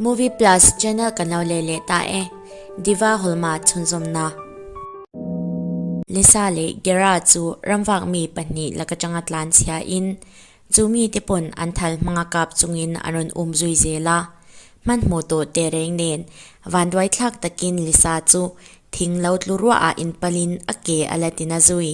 Movie Plus channel kan lo leh leh ta e, Diva Hawlma chhunzawmna. Lisa leh Gera chu ramvak mi pahnih lak atanga tlan chhia in chu mi te pawn an thal hmanga kap chungin an rawn um zui zel a. Hman hmuh tur te reng nen vanduai thlak takin Lisa chu thing lo tlu ruah ah in palin a ke a la ti na zui.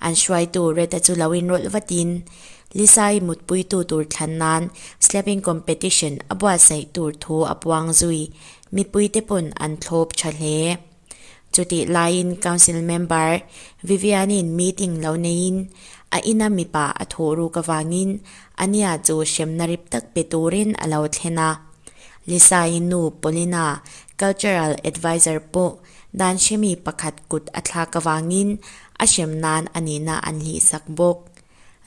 An hruaitu Reta chu lo inrawlh vatin Lisa-i mutpuitu tur thlan nan slapping competition a buatsaih tur thu a puang zui. Mipuite pawn an thlawp tha hle. Chutih laiin Council member Vivian-in meeting lo neiin a ina mipa a thu ruk avangin ania chu hremna rip tak pe turin a lo thlen a. Lisa-i nu Paulina, cultural advisor pawh Dan hremi pakhat kut a thlak avangin a hrem nan a nihna an hlihsak bawk.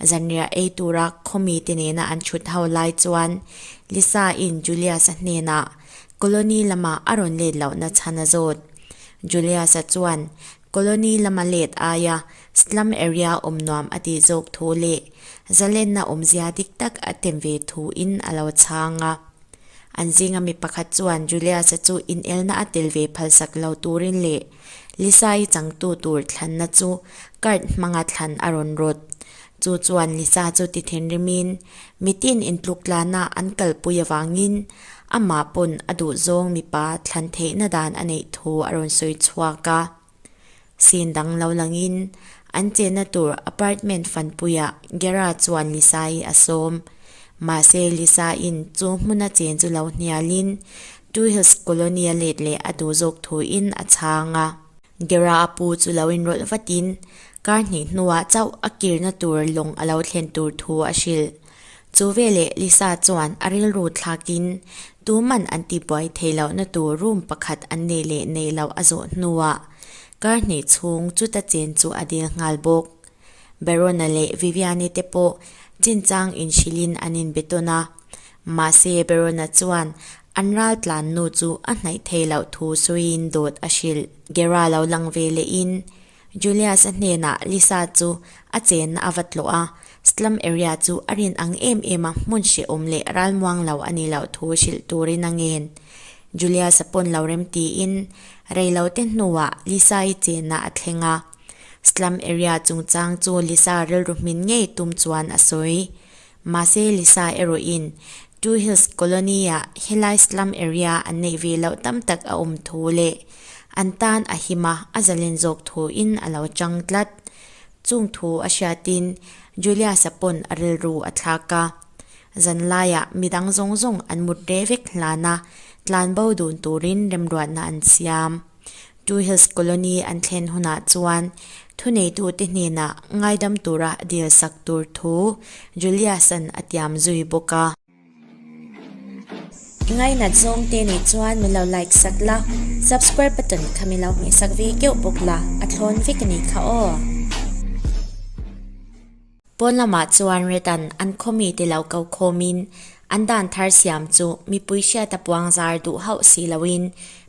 Zanriah ei tura khawmi te nena an chhut ho lai chuan Lisa in Julius-a hnenah Colony lamah a rawn let loh na chhan a zawt. Julius-a chuan Colony lama let aia slum area awm nuam a tih zawk thu leh zalenna awmzia dik tak a tem ve thu in a lo chhang a. An zinga mi pakhat chuan Julius-a chu inelna a tel ve phalsak lo turin leh Lisa-i changtu tur thlanna chu cart hmanga thlan a rawn rawt. Chu chuan Lisa chu ti thinrimin mitin intluktlanah an kalpui avangin amah pawn a duhzawng mipa thlan theihna dan a neih thu a rawn sawi chhuak a. Sin dang lo langin an chenna tur apartment fanpuiah Gera chuan Lisai a sawm. Mahse Lisai'n chu hmuna chen chu lo hnialin Two Hills Colony a let leh a duh zawk thuin a chhang a. Gera a pu chu lo inrawlh vatin kar hnih hnuah chauh a kirna tur lawng a lo thlen tur thu a hrilh. Chu veleh Lisa chuan a rilru thlakin tuman an tibuai thei lohna tur room pakhat an nei leh nei lo a zawh hnuah kar hnih chhung chuta chen chu a dil nghal bawk. Verona leh Vivianne te pawh chinchang inhrilhin an inbetawn a, mahse Verona chuan an ral tlannu chu a hnaih thei loh thu sawiin dawt a hrilh. Gera lo lang velehin Julius-a hnenah Lisa chu a chenna a va tlawh a, slum area chu a rin ang em em a, hmun hrehawm leh ralmuang lo a nih loh thu hrilh turin a ngen. Julius-a pawn lo rem tiin rei lo te hnuah Lisa-i chenna a thleng a. Slum area chungchang chu Lisa rilru hmin ngei tum chuan a sawi. Mahse Lisa erawhin Two Hills Colony-ah helai slum area an neih ve loh tam tak a awm thu leh an tan a hima a zalen zawk thuin a lo chang tlat. Chung thu a hriatin Julius-a pawn a rilru a thlak a. Zan laiah mi dang zawng zawng an mut reh vek hlan a, tlanbo dun turin remruatna an siam. Two Hills Colony an thlen hunah chuan thuneitute hnenah ngaidam tura dil sak tur thu Julius-a'n a tiam zui bawk a. Ngainat zawngte nih chuan min lo like sak la, subscribe button kha min lo hmeh sak ve keuh bawk la, a thlawn vek a nih kha aw. Pawn lamah chuan Redan an khawmi te lo ko khawmin an dan thar siam chu mipui hriata puang zar duh hauh si loin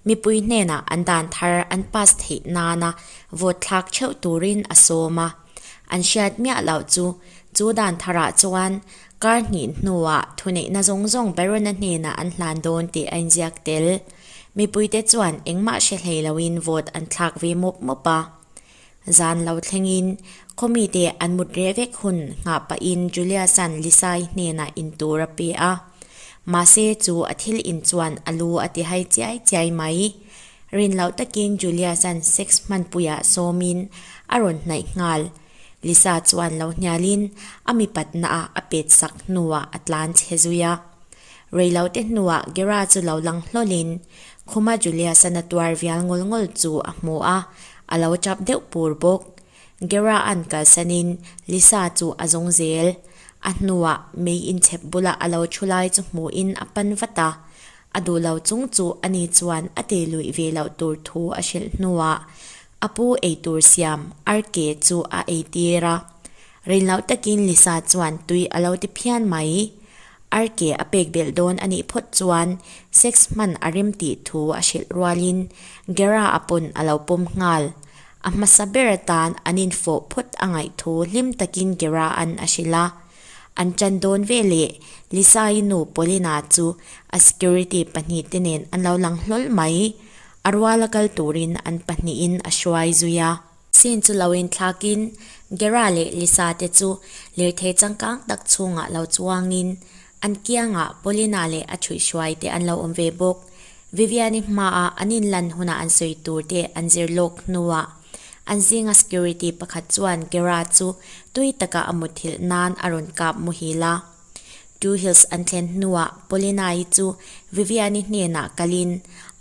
mipui hnenah an dan thar an pass theih nana vote thlak theuh turin a sawm a. An hriat miah loh chu chu dan tharah chuan kar hnih hnuah thuneihna zawng zawng Baron-a hnenah an hlan dawn tih a inziak tel. Mipuite chuan engmah hre hlei loin vote an thlak ve mawp mawp a. Zan lo thlengin Committe an mut reh vek hun nghah pahin Juliasan Lisai hnenah in tur a pe a. Mahse chu a thil in chuan a lu a ti hai chiai chiai mai. Rin loh takin Juliasan sex hmanpuiah sawmin a rawn hnaih nghal. Lisa chuan lo hnialin a mi patna ah a pet sak hnuah a tlan che zui a. Rei lo te hnuah Gera chu lo lang hlawlin khuma Juliasan a tuar vial ngawlh ngawlh chu a hmu a, A lo chap deuh pur bawk. Gera an kalsanin Lisa chu a zawng zel. A hnuah mei inchhep bula a lo thu lai chu hmuhin a pan vat a. A duh lo chung chu a ni chuan a tei luih ve loh tur thu a hrilh hnuah a pu ei tur siam Arke chu a ei tir a. Rinloh takin Lisa chuan tui a lo ti phian mai i, Arke a pek belh dawn a nih phawt chuan sex hman a rem tih thu a hrilh rualin Gera a pawn a lo pawm nghal. A hmasa ber atan an infawh phawt a ngaih thu hlim takin Gera an a hrilh a. An tan dawn ve leh Lisa-i nu Polina chu a security pahnih te nen an lo lang hlawl mai i, a rual a kal turin an pahnihin a hruai zui a. Sin chu lo inthlakin Gera leh Lisa te chu lirthei changkang tak chhungah lo chuangin an kiangah Paulina leh a thuihhruai te an lo awm ve bawk. Vivian-i hmaa an inlan hunah an sawi tur te an zir lawk hnuah an zinga security pakhat chuan Gera chu tui takah a muthilh nan a rawn kap muhil a. Two Hills an thlen hnuah Polina-i chu Vivian-i hnenah kalin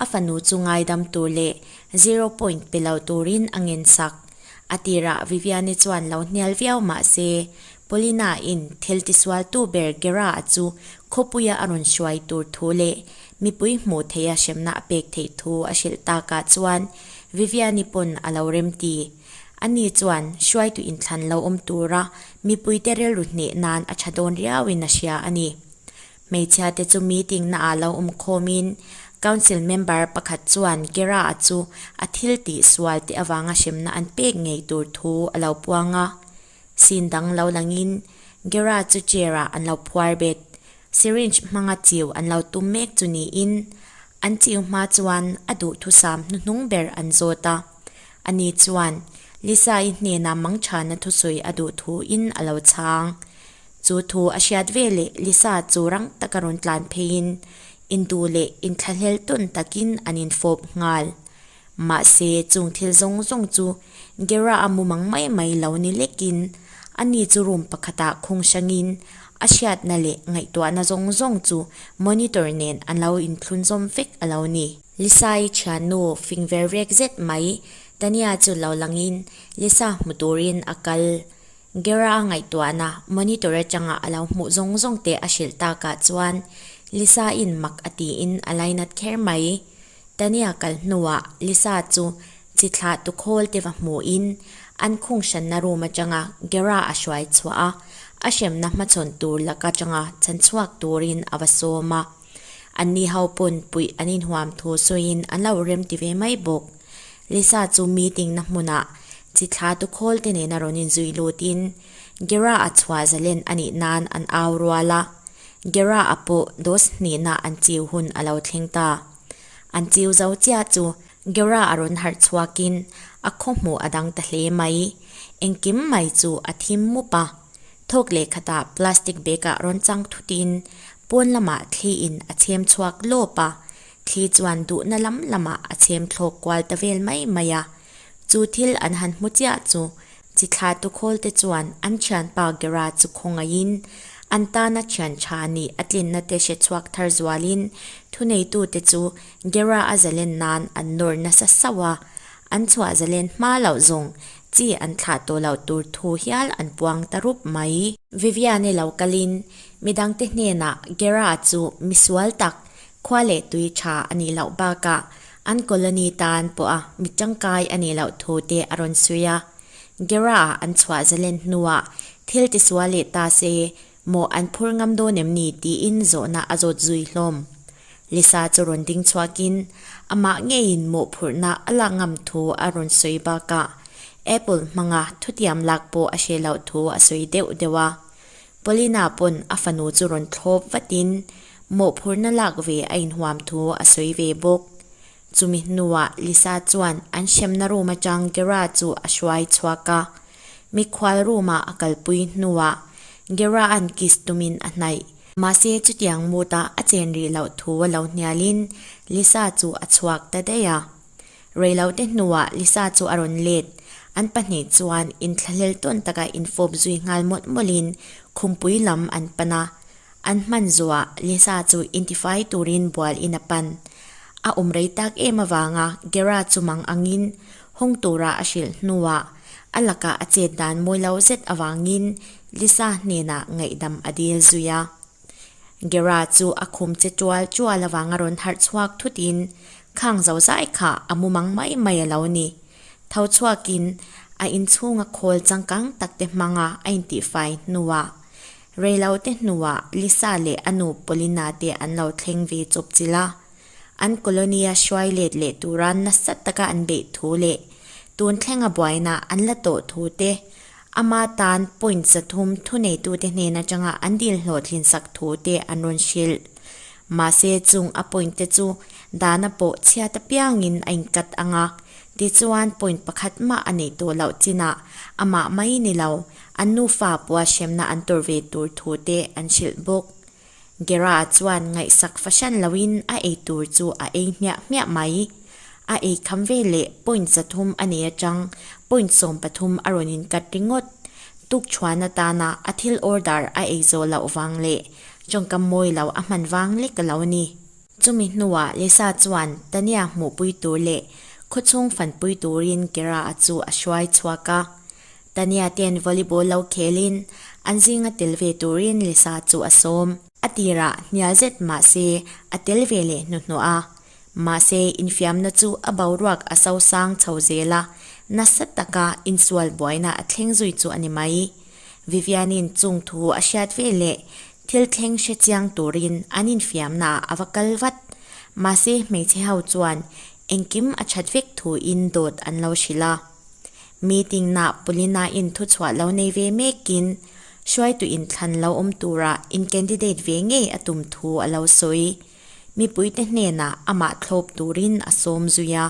a fanu chu ngaidam tur leh zero point pe lo turin a ngensak. A tirah Vivian-i chuan lo hnial viau mah se, Polina-in thil tisualtu ber Gera-a chu khawpuia a rawn hruai tur thu leh mipui hmuh theih a hremna a pek theih thu a hrilh takah chuan Vivian-i pawn a lo remti. Ani chuan hruaitu inthlan lo awm tura mipuite rilru hneh nan a tha dawn riauin a hria a ni. Hmeichhia te chu meeting naah lo awm khawmin Council member pakhat chuan Kira-a chu a thil tih sual te avanga hremna an pek ngei tur thu a lo puang a. Sin dang lo langin Kira chu chair-ah an lo phuar bet, syringe hmanga chiu an lo tum mek chu niin an chiu hma chuan a duh thusam hnuhnung ber an zawt a. A ni chuan Lisa-i hnenah mangṭhana thusawi a duh thu in a lo chhang. Chu thu a hriat ve leh Lisa chu rang taka rawn tlan pheiin induh leh inthlahlel tawn takin an infawp nghal. Mahse, chung thil zawng zawng chu Gera a mumang mai mai lo ni lekin a ni chu room pakhatah khung hrangin a hriatna leh ngaihtuahna zawng zawng chu monitor nen a lo inthlunzawm vek a lo ni. Lisa-i thiannu fing ver vek zet mai. Tania chu lo langin Lisa hmu turin a kal. Gera-a ngaihtuahna monitor atanga a lo hmuh zawng zawng te a hrilh takah chuan Lisa-in mak a tiin a lai nat kher mai. Tania kal hnuah Lisa chu chi thlah tu khawl te va hmuhin an khung hranna room atanga Gera a hruai chhuah a, a hremna hmachhawn tur lak atanga chhan chhuak turin a va sawm a. An ni ho pawn puih an inhuam thu sawiin an lo rem ti ve mai bawk. Lisa chu meeting na hmunah chi thla tu khawlte nena rawn inzui lutin Gera a chhuah zalen a nih nan an au rual a. Gera a pawh Dos hnihna an chiu hun a lo thleng ta. An chiu zo chiah chu Gera a rawn harh chhuakin a khaw hmuh a dang ta hle mai. Engkim mai chu a thim mup a. Thawk leh khat ah plastic bag ah rawn chang thut in pawn lam ah thli in a chhem chhuak lawp a, thli chuan duhna lam lam ah a chhem thlawk kual ta vel mai mai a. Chu thil an han hmu chiah chu chi thla tu khawl te chuan an thian pa Gera chu khawngaih in an tan a thian tha a ni, a tlin na te hre chhuak thar zual in thu nei tu te chu Gera a zalen nan an nawr nasa sauh a, an chhuah zalen hma loh zawng Chi an thlah tawh loh tur thu hial an puang ta rup mai. Viviane lo kal in, Midangte hnenah Gera chu mi sual tak, khua leh tui tha a nih loh bakah an colony tan pawha mi tangkai a nih loh thu te a rawn sawi a. Gera-ah an chhuah zalen hnuah thil tisual leh ta se Maw an phur ngam dawn em ni? tiin zawhna a zawt zui hlawm. Lisa chu rawn ding chhuakin amah ngeiin mawhphurhna a lak ngam thu a rawn sawi bak a, Apple hmanga thutiam lak pawh a hre loh thu a sawi deuh deuh a. Paulina pawn a fanu chu rawn thlawp vatin mawhphurhna lak ve a inhuam thu a sawi ve bawk. Chumi hnuah Lisa chuan an hremna room atang Gera chu a hruai chhuak a. Mikhual room ah a kalpui hnuah Gera an kiss tum in a hnaih. Mahse chutiang mood ah a chen rih loh thu a lo hnial in Lisa chu a chhuak ta daih a. Rei lo te hnuah Lisa chu a rawn let. An pahnih chuan in thlahlel tawn taka in fawp zui nghal mawlh mawlh in khumpui lam an pan a. An hman zuah Lisa chu intifai turin bual in a pan. A awm rei tak em avanga Gera chu mang angin hawng tura a hrilh hnuah a lakah a chet dan mawi lo zet avangin Lisa hnenah ngaihdam a dil zui a. Gera chu a khum che tual tual avanga rawn harh chhuak thutin, Khang zo zai kha a mu mang mai mai a lo ni. Tho chhuakin a inchhunga khawl changkang takte hmanga a intifai hnuah Reilote hnuah Lisa leh a nu Polina te an lo thleng ve chawp chilh a, an colony a hruai let leh tura nasa taka an beih thu leh tun thlenga buaina an la tawh thu te, ama tan point zathum thuneitute hnen atanga an dil hlawh thlinsak thu te an rawn hrilh. Mahse chung a point te chu dana pawh chhiat apiangin a inkat ang a, tichuan point pakhat mah a nei tawh loh chinah amah mai ni lo An nufa puahhremna an tur ve tur thu te an hrilh bawk. Gera chuan ngaihsak fahran loin a ei tur chu a ei hmiah hmiah mai. A ei kham ve leh point zathum a nei atang, point sawm pathum a rawn in cut ringawt. Tukchhuahna tana a thil order a ei zawh loh vang leh chawngkam mawi loh a hman vang lek a lo a ni. Chumi hnuah Lisa chuan Tania hmuhpui tur leh khawchhung fanpui turin Kira-a chu a hruai chhuak a. Tania ten volleyball lo khelin an zinga tel ve turin Lisa chu a sawm. A tira hnial zet mahse a tel ve leh hnuhnawh a. Mahse infiamna chu a boruak a sosang chho zel a, nasa taka insual buaina a thleng zui chu a ni mai. Vivian-in chungthu a hriat ve leh Thil thleng hre chiang turin an infiamnaah a va kal vat. Mahse hmeichhe ho chuan engkim a that vek thuin dawt an lo hrilh a. Meeting nah Pulina in thuchhuah lo nei ve mekin hruaitu in thlan lo awm turah in candidate ve ngei a tum thu a lo sawi. Mipuite hnenah amah thlawp turin a sawm zui a.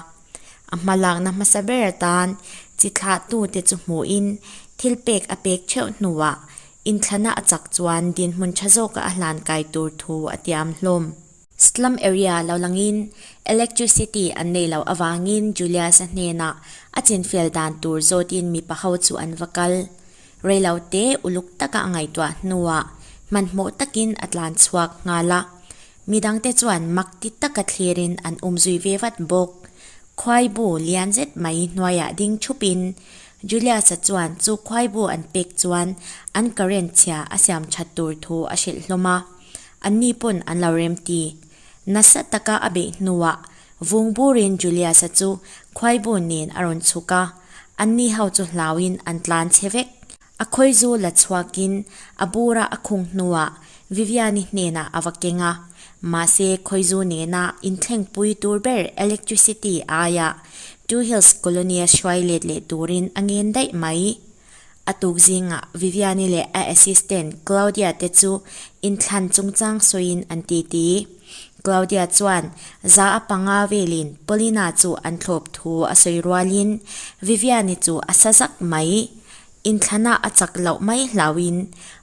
A hma lakna hmasa ber atan chi thlahtute chu hmuhin thil pek a pek theuh hnuah Inthlana a chak chuan dinhmun tha zawka a hlan kai tur thu a tiam hlawm. Slum area lo langin electricity an nei loh avangin Julius-a hnenah a chinfial dan tur zawtin mipa ho chu an va kal. Rei lo te uluk taka a ngaihtuah hnuah hmanhmawh takin a tlan chhuak nghal a, midangte chuan makti taka thlirin an um zui ve vat bawk. Khuaibu lian zet mai hnuaiah ding thupin Julius-a chuan chu khuaibu an pek chuan an current chhia a siam that tur thu a hrilh hlawm a, anni pawn an lo remti. Nasa taka a beih hnuah vung burin Julius-a chu khuaibu nen a rawn chhuk a, anni ho chu hlauin an tlan che vek. A khawizu la chhuakin a bura a khung hnuah Viviani hnenah a va keng a, mahse Khawizu nena inthlengpui tur ber electricity aia Two Hills Colony a hruai let leh turin a ngen daih mai. A tuk zingah Viviani leh a assistant Claudia te chu inthlan chungchang sawiin an titi. Claudia chuan za a panga velin Polina chu an thlawp thu a sawi rualin Viviani chu a sa zak mai. Inthlana a chak loh mai hlauhin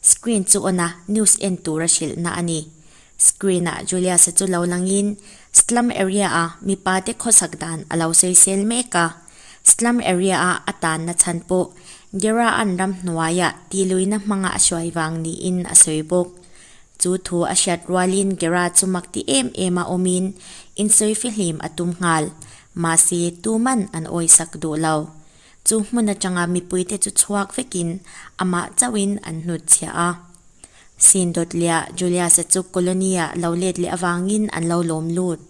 Screen chu on a, news en tura hrilhna a ni. Screen ah Julius-a chu lo langin slum area ah mipa te khawsak dan a lo sawisel mek a. Slum area ah a tanna chhan pawh Gera an ram hnuai ah tiluina hmanga a hruai vang niin a sawi bawk. Chu thu a hriat rualin Gera chu makti em em a awmin insawi fihlim a tum nghal. Mahse, tuman an awisak duh lo. Chu hmun atanga mipuite chu chhuak vekin amah chauhin an hnut chhiah a. Sindot leh a Julius-a chu colony-a lo let leh avangin an lo lawm lut.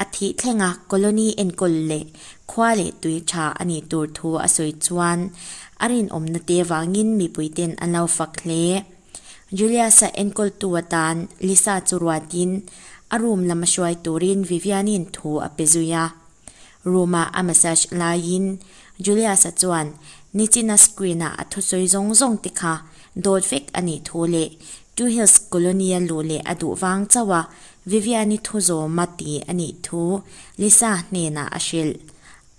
A thih thlenga colony enkawl leh khua leh tui tha a nih tur thu a sawi chuan a rinawmna te avangin mipuite'n an lo fak hle. Julius-a enkawltu atan Lisa chu ruatin a room lama hruai turin Vivian-i'n thu a pe zui a. Room-ah a massage laiin Julius-a chuan nichina screen-ah a thu sawi zawng zawng te kha dawt vek a nih thu leh Two Hills Colony a luh leh a duh vang chauh a Vivian-i thu zawm a ti a nih thu Lisa hnenah a hrilh.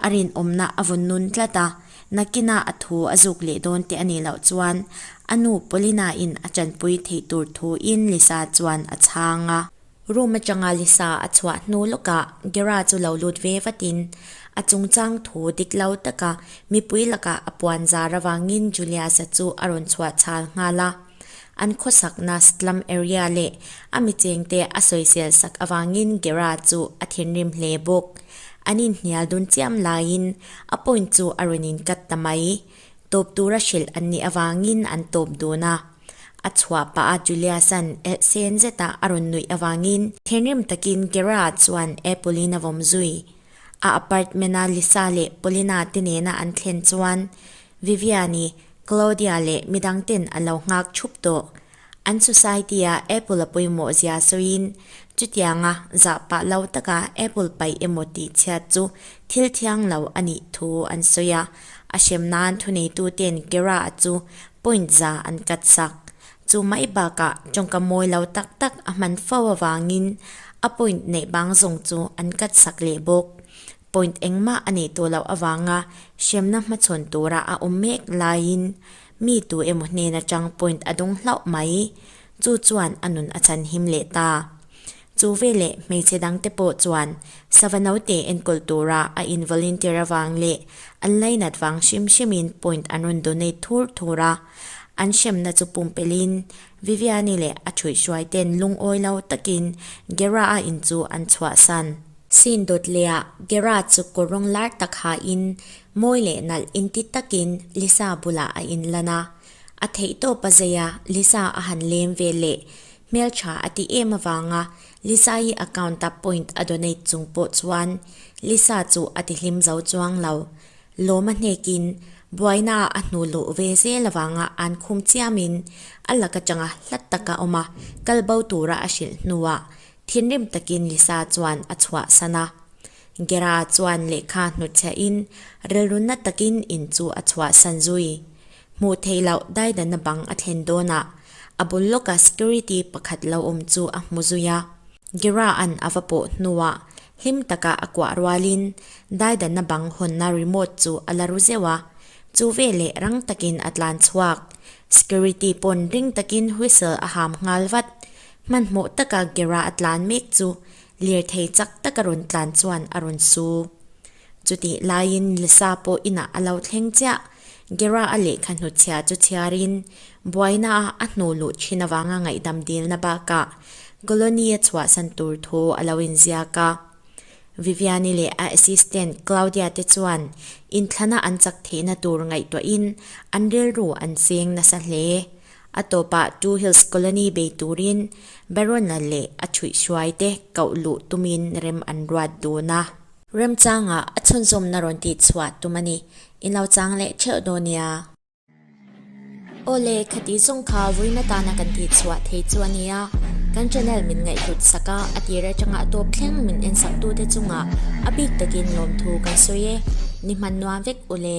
A rinawmna a vun nun tlat a, nakinah a thu a zuk leh dawn teh a nih loh chuan a nu Paulina-in a tanpui theih tur thuin Lisa chuan a chhang a. Room atanga Lisa a chhuah hnu lawkah Gera chu lo lut ve vatin a chungchang thu dik lo taka mipui lakah a puan zar avangin Juliasa chu a rawn chhuah chhal nghal a. An khawsakna slum area leh a mi chengte a sawizel sak avangin Gera chu a thinrim hle bawk. An inhnial dun chiam laiin a point chu a rawn inkat ta mai. Tawp tura hrilh an nih avangin an tawp dun a. A chhuah pa a Julius-a'n ehsen zeta a rawn nuih avangin thinrim takin Gerard chuan Apple-in a vawm zui. A apartment-a Lisa leh Polina te nena an thlen chuan Vivian-i Claudia leh mi dangte'n a lo nghak thup tawh. An society-a Apple-a pawimawh zia sawiin chutianga zah pah lo taka Apple pai emaw tih chhiat chu thil thiang lo a nih thu an sawi a. A hrem nan thuneitu ten Kera a chu point za an cut sak. Chu mai bakah tawngka mawi lo tak tak a hman fo avangin a point neih bang zawng chu an cut sak leh bawk. Point engmah a neih tawh loh avanga hremna hmachhawn tura a awm mek laiin mi tu emaw hnena chang point a dawng hlauh mai. Chu chuan a nun a chhanhim leh ta. Chu veleh hmeichhe dangte pawh chuan sava naute enkawl tura a involunteer avang leh an lainat vang hrim hrimin point an rawn donate thur thur a. An hremna chu pumpelhin Viviani leh a thuihhruai ten lungawi lo takin Gera a in chu an chhuahsan. Sin dawt lehah Gera chu kawr rawng lar tak hain mawi leh nalh inti takin Lisa bulah a in lan a. A theihtawpa zeia Lisa a han lem ve leh hmeltha a ti em avanga Lisa-i account-a point a donate chung pawh chuan Lisa chu a ti hlim zo chuang lo. Lawma hnekin buainaah a hnu luh ve zel avanga an khum chiamin a lak atanga hlat tak a awm a, kal bo tura a hrilh hnuah thinrim takin Lisa chuan a chhuah san a. Gera chuan lehkha hnutchhiahin rilrunna takin in chu a chhuah san zui. Hmuh theih loh daidanna bang a thlen dawn a, a bul lawkah security pakhat lo awm chu a hmu zui a, Gira an a va pawh hnuah hlim takah a kuah rualin daidanna bang hawnna remote chu a la ru zeuh a, chu veleh rang takin a tlan chhuak. Security pawn ring takin whistle a ham nghal vat. Hmanhmawh taka Gira a tlan mek chu lirthei chak taka rawn tlan chuan a rawn su. Chutih laiin Lisa pawh inah a lo thleng chiah, Gera a lehkha hnuchhia chu chhiarin buaina a a hnu luh thin avanga ngaihdam dilna bakah colony a chhuahsan tur thu a lo inziak a. Viviani leh a assistant Claudia te chuan inthlana an chak theihna tur ngaihtuahin an rilru an cheng nasa hle. A tawpah Two Hills Colony bei turin Barona leh a thuihhruaite koh luh tumin rem an ruat dun a. Remchanga a chhunzawmna rawn tih chhuah tum a ni. In lo chang leh theuh daw nia. Aw le, khati zawng kha ruina tana kan tih chhuah thei chu a nia. Kan channel min ngaihhlut sak a, a tir atanga a tawp thleng min en saktute chunga a bik takin lawmthu kan sawi e. Ni hman nuam vek u le.